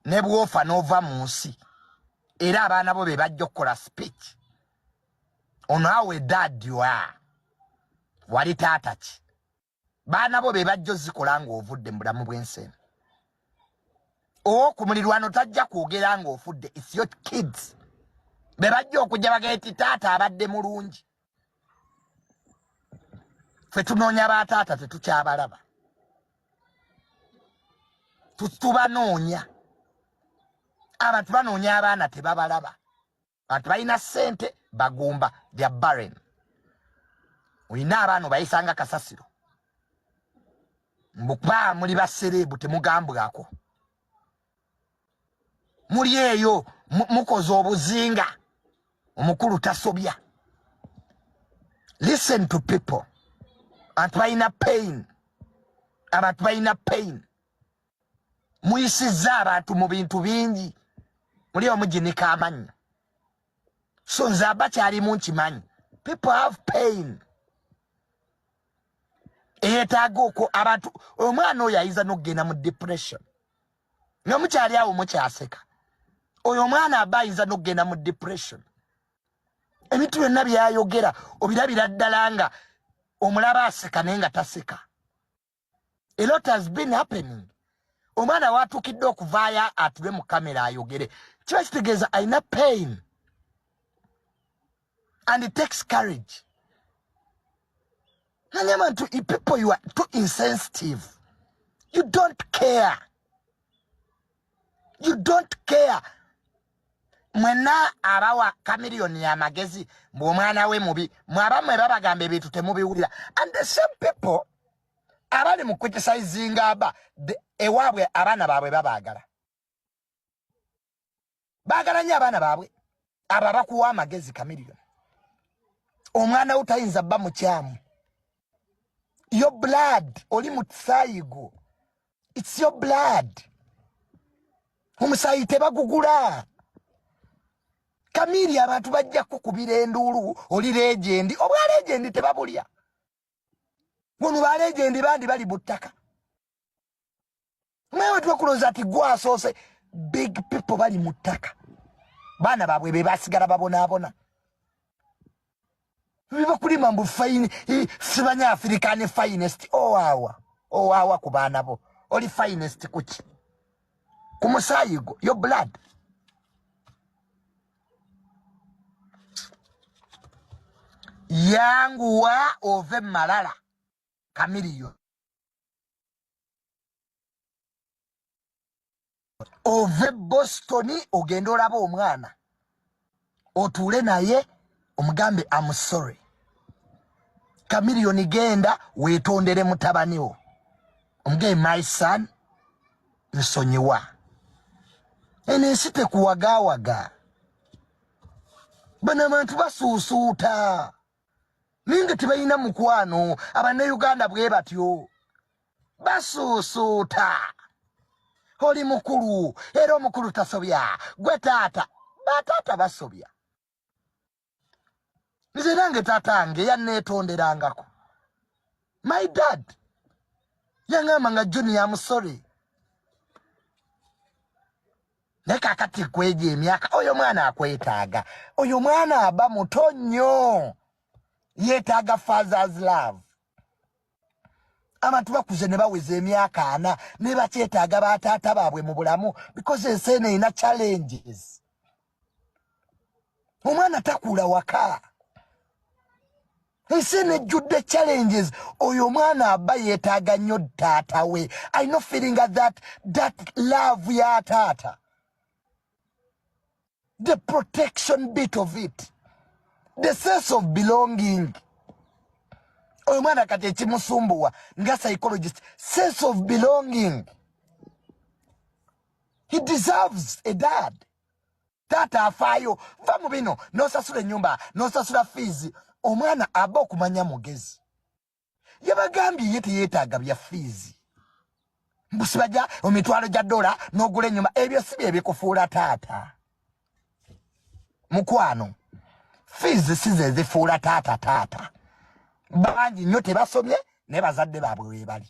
ne bwofa n'ova mu nsi era abaana bo be bajja okukola speech ono awe dadwa wali taata ki baana bo be bajja ozikola ng'ovudde mu bulamu bw'ensi eno owo ku mulirwano tajja kwogera ng'ofudde its your kids be bajja okujja bagee ti taata abadde mulungi fe tunoonya ba taata tetukyabalaba tubanoonya abantu banoonya abaana tebabalaba bantu balina sente bagumba thea barren olina abaana obayisanga kasasiro mbukuba muli basereebu temugambwako muli eyo mukoze obuzinga omukulu tasobya listen to people abantu balina pain abantu balina pain muyisizza abantu mu bintu bingi muli omuginika amanyi so nze aba kyalimu nkimanyi people have pain eyetaaga okwo abantu omwana oyo ayinza nokugenda mu depression nga mukyali awo mukyaseka oyo omwana aba ayinza nokugenda mu depression ebintu byonna byayogera obirabira ddala nga omulaba aseka naye nga taseka a lot has been happening omwana watukidde okuvaayo atube mu kamera ayogere kiba kitegeeza alina pain and it takes courage nani abantu people you are too insensitive you don't care you don't care mwena abawa kamiliyoni ya magezi mbu omwana we mubi mwaba mwe babagamba ebintu temubiwulira and the same people abali mu criticizinga aba ewaabwe abaana baabwe babaagala bagala nnyo abaana baabwe abo abakuwa amagezi kamiriyo omwana wo tayinza bba mukyamu yo blood oli mu kisaayi gwo its yo blood omusaayi tebagugula kamiiri abantu bajja kukubira enduulu oli legendi obwa legendi tebabulya wano ba legendi bandi bali buttaka mwewe twekuloza ati gwasoose big people bali mu ttaka baana baabwe be basigala babonaabona bibakulima mbu fine sibanya afirika ne finest owawa owawa ku baana bo oli finest kuki ku musaayi gwo yo blood yanguwa ove malala kamiriyo ove boston ogenda olaba omwana otuule naye omugambe am sorry kamiliyoni genda wetondere mutabaniwo omugee my son nsonyiwa eno ensi tekuwagawaga bano abantu basuusuuta ninga tebalina mukwano abannauganda bwe batyo basuusuuta oli mukulu era omukulu tasobya gwe taata bataata basobya nze nange taata nge yanneetonderangako my dad yaŋamba nga junior amusore naye kakati kwejo emyaka oyo mwana akwetaaga oyo mwana aba muto nnyo yetaaga fathers love abantu bakuze ne baweza emyaka ana ne bakyetaaga bataata baabwe mu bulamu because ensi eno erina challenges omwana takula waka nsi eno ejjudde challenges oyo omwana aba yeetaaga nnyo taata we i no feeling that that love ya taata the protection bit of it the sense of belonging oyo mwana kati ekimusumbuwa nga psychologist sense of belonging he deserves a dad taata afaayo va mu bino nosasula enyumba nosasula fiizi omwana aba okumanya mugezi yabagambye ye teyetaaga bya fiizi mbusibaja omitwalo gya dola nogula enyuma ebyo si byebikufuula taata mukwano fiizi si zezifuula taata taata bangi nnyo tebasomye naye bazadde baabwe webali